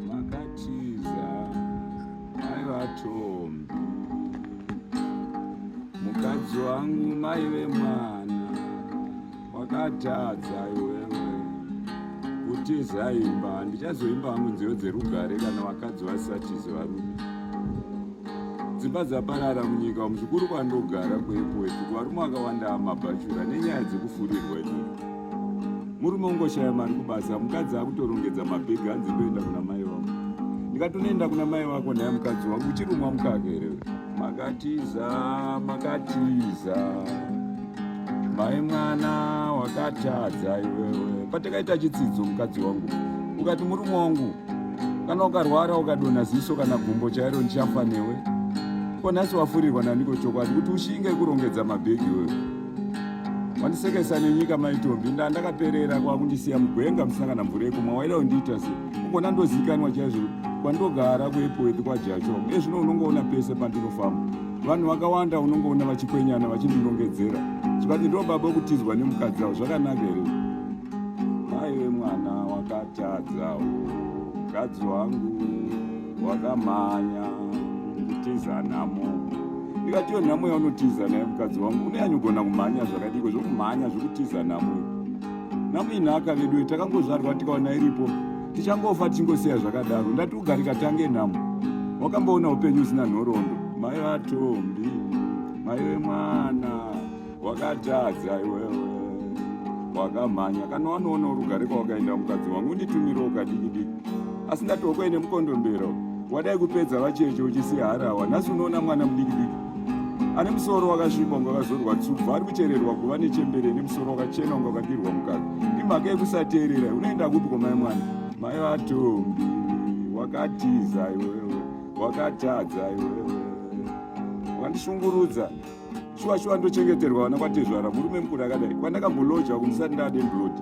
makatiza mai vatombi mukadzi wangu mai vemwana wakatadza iwewe kutiza imba ndichazoimba hangu nziyo dzerugare kana vakadzi vasatizi varume dzimba dzaparara munyika umu zvikuru kwandogara kuepoeti kuvarume vakawanda amabhachura nenyaya dzekufurirwa nyika murume ungoshaya mari kubasa mukadzi akutorongedza mabhegi hanzi ndoenda kuna mai wako ndikati unoenda kuna mai wako naye mukadzi wangu uchirumwa mukaka here makatiza makatiza mai mwana wakatadza iwewe patakaita chitsidzo mukadzi wangu ukati murume wangu kana ukarwara ukadona ziso kana gumbo chairo ndichafa newe ko nhasi wafurirwa naniko chokwadi kuti ushinge kurongedza mabhegi iwewe wandisekesa nenyika maitombi nda ndakaperera kwakundisiya mugwenga musina kana mvura yekumwa waida kundiita se ukona ndozikanwa chaizvo kwandogara kuepowethi kwajacho ezvino unongoona pese pandinofamba vanhu vakawanda unongoona vachikwenyana vachindinongedzera chikati ndo baba wekutizwa nemukadzi avo zvakanaka here aive mwana wakatadza mukadzi wangu wakamhanya kutiza nhamo ndikatiyo nhamo yaunotiza naye mukadzi wangu uneyanyogona kumhanya zvakadiko zvokumhanya zvokutiza nhamo nhamo inhaka veduwe takangozvarwa tikaona iripo tichangofa tichingosiya zvakadaro ndati ugarika tange nhamo wakamboona upenyu usina nhoroondo mai vatombi mai vemwana wakatadza iwewe wakamhanya kana wanoona urugare kwawakaenda mukadzi wangu unditumiro ukadikidiki asi ndatokwai nemukondombera wadai kupedza vacheche uchisiya harawa nhasi unoona mwana mudikidiki ane musoro wakasvipa unga wakazorwa tsubva ari kuchererwa kuva nechembere nemusoro wakachena unga wakadirwa mukadzi imhaka yekusateerera unoenda kupi kwamai mwana mai vatombi wakatiza iwewe wakatadza iwewe wandishungurudza shuwa shuwa ndochengeterwa vana kwatezvara murume mukuru akadai kwandakamboloja kumusati ndade mblodi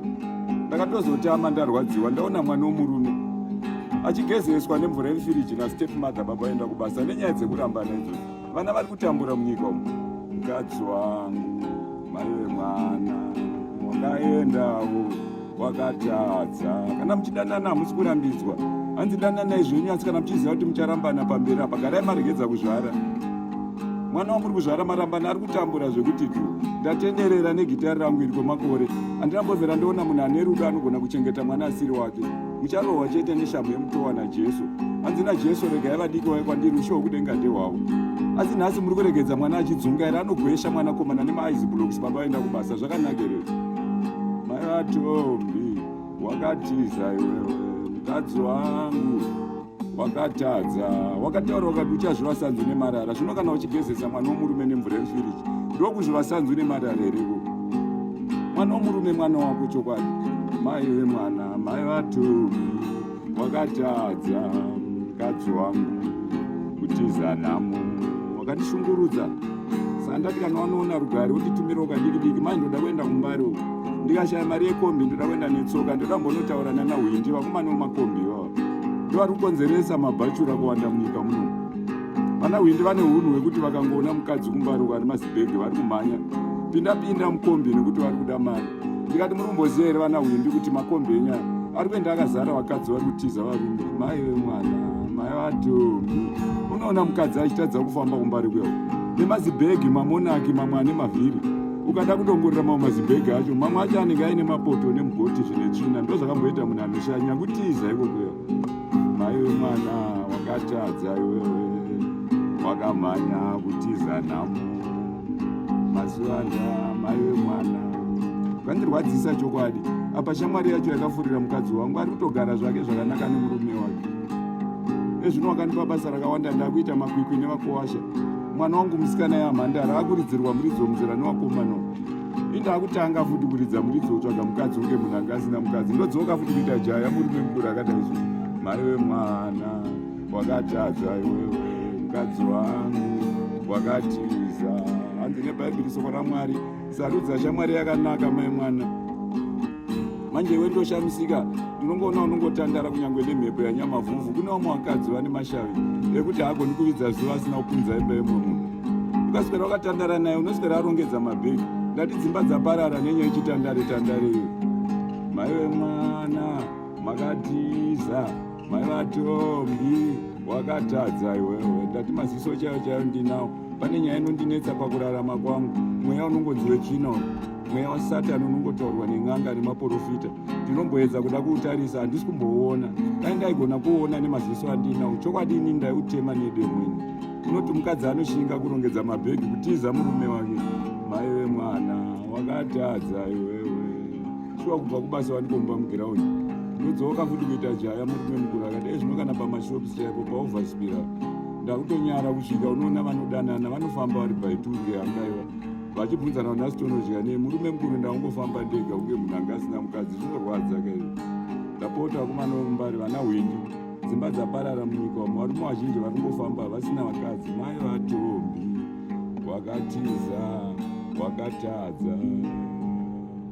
ndakatozotama ndarwadziwa ndaona mwana womurume achigezeswa nemvura yemfiriji nastep mother baba vaenda kubasa nenyaya dzekurambana idzo vana vari kutambura munyika umu mukadzi wangu mai vemwana wakaendawo kwakatadza kana muchidanana hamusi kurambidzwa hanzi dananai zvenyu asi kana muchiziva kuti mucharambana pamberi apa garai maregedza kuzvara mwana wamuri kuzvara marambana ari kutambura zvekuti tu ndatenderera negitari rangu iri kwemakore handina mbovera ndoona munhu ane rudo anogona kuchengeta mwana asiri wake mucharohwa chete neshamhu yemutowa najesu hanzi najesu regai vadiki wave kwandiri ushe hwekudenga ndehwavo asi nhasi muri kuregedza mwana achidzunga here anogoesha mwanakomana nemaaizibloks baba vaenda kubasa zvakanaka here maivatombi wakatiza iwewe mukadzi wangu wakatadza wakataura ukati uchazvivasanzwi nemarara zvino kana uchigezesa mwana womurume nemvura yefiriji ndokuzvivasanzwi nemarara hereko mwana womurume mwana wako chokwadi mai vemwana mai vatombi wakatadza mukadzi wangu kutiza nhamo wakandishungurudza sandati kana wanoona rugare unditumira ukadikidiki mai ndoda kuenda kumbari uku ndikashaya mari yekombi ndoda kuenda netsoka ndoda kumbonotaura nana hwindi vakomana vemakombi ivavo ndovari kukonzeresa mabhachura kuwanda munyika muno vana hwindi vane unhu hwekuti vakangoona mukadzi kumbari uku ari mazibhege vari kumhanya pindapinda mukombi nekuti vari kuda mari ndikati muri kumboziva here vana hwindi kuti makombi enyu aya ari kuenda akazara vakadzi vari kutiza varume mai vemwana mai vatombi unoona mukadzi achitadza kufamba kumbari kwewo nemazibhegi mamonaki mamwe ane mavhiri ukada kudongorera mamwe mazibhegi acho mamwe acho anenge aine mapoto nemugoti zvine tsvina ndozvakamboita munhu anoshanya kutiza ikokwewo maiwe mwana wakatadza iwewe wakamhanya kutiza nhamo mazuvanda maiwe mwana kandirwadzisa chokwadi apa shamwari yacho yakafurira mukadzi wangu ari kutogara zvake zvakanaka nemurume wake ezvino wakandipa basa rakawanda ndakuita makwikwi nevakuwasha mwana wangu musikana yamhandara akuridzirwa muridzo muzera newakomana indakutanga futi kuridza muridzi wotsvaga mukadzi unge munhu anga asina mukadzi ndodzoka futi kuita jaya murume mukuru akadai zvo mari wemwana wakatadza iwewe mukadzi wangu wakatiza hanzi nebhaibheri soko ramwari sarudza shamwari yakanaka mai mwana manje iwe ndoshamisika ndinongoona unongotandara kunyange nemhepo yanyamavhuvhu kune vamwe vakadzi vane mashavi ekuti haagoni kuvidza zuva asina kupunza imba yemwe munhu ukaswera wakatandara naye unoswera arongedza mabhegi ndati dzimba dzaparara nenyaya ichitandare tandare iyo maive mwana makatiza mai vatombi wakatadza iwewe ndati maziso chayo chayo ndinawo pane nyaya inondinetsa pakurarama kwangu mweya unongonzi wechino mweya wasatani unongotaurwa nen'anga nemaporofita ndinomboedza kuda kuutarisa handisi kumbouona dai ndaigona kuuona nemaziso andinawo chokwadi ini ndaiutema nedemweni unoti mukadzi anoshinga kurongedza mabhegi kutiza murume wake maive mwana wakatadza iwewe shuwa kubva kubasa wanikomba mugiraundi ndodzoka futi kuita jaya murume mukuru akadai zvino kana pamashops chaipo paovaspira ndakutonyara kusvika unoona vanodanana vanofamba vari baituke angaiwa vachibvunzana vana sitonodya nei murume mukuru ndakungofamba ndega kunge munhu anga asina mukadzi zvinorwadza kaizvo ndapota vakomana vomumbari vana hwindi dzimba dzaparara munyika wamwe varume vazhinji vari kungofamba vasina vakadzi mai vatombi wakatiza wakatadza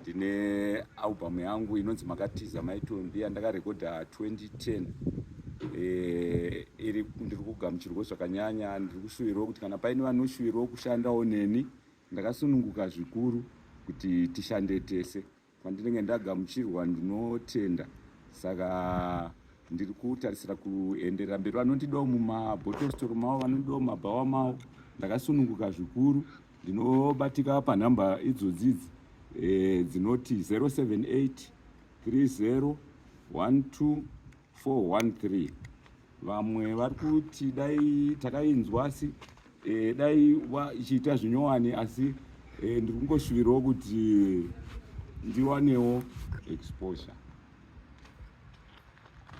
ndine album yangu inonzi makatiza maitombi yandakarekodha 2010 eh, iri ndiri kugamuchirwa zvakanyanya ndiri kushuvirwa kuti kana paine vanoshuvirwa kushandawo neni ndakasununguka zvikuru kuti tishande tese kwandinenge ndagamuchirwa ndinotenda saka ndiri kutarisira kuenderera mberi vanondidawo mumabhotositoro mavo vanondidawo mumabhawa mavo ndakasununguka zvikuru Ndinobatika panhamba idzodzi idzi e, dzinoti 078 30 12 413 vamwe vari kuti dai takainzwa asi e, dai ichiita zvinyowani asi e, ndiri kungoshuvirawo kuti ndiwanewo exposure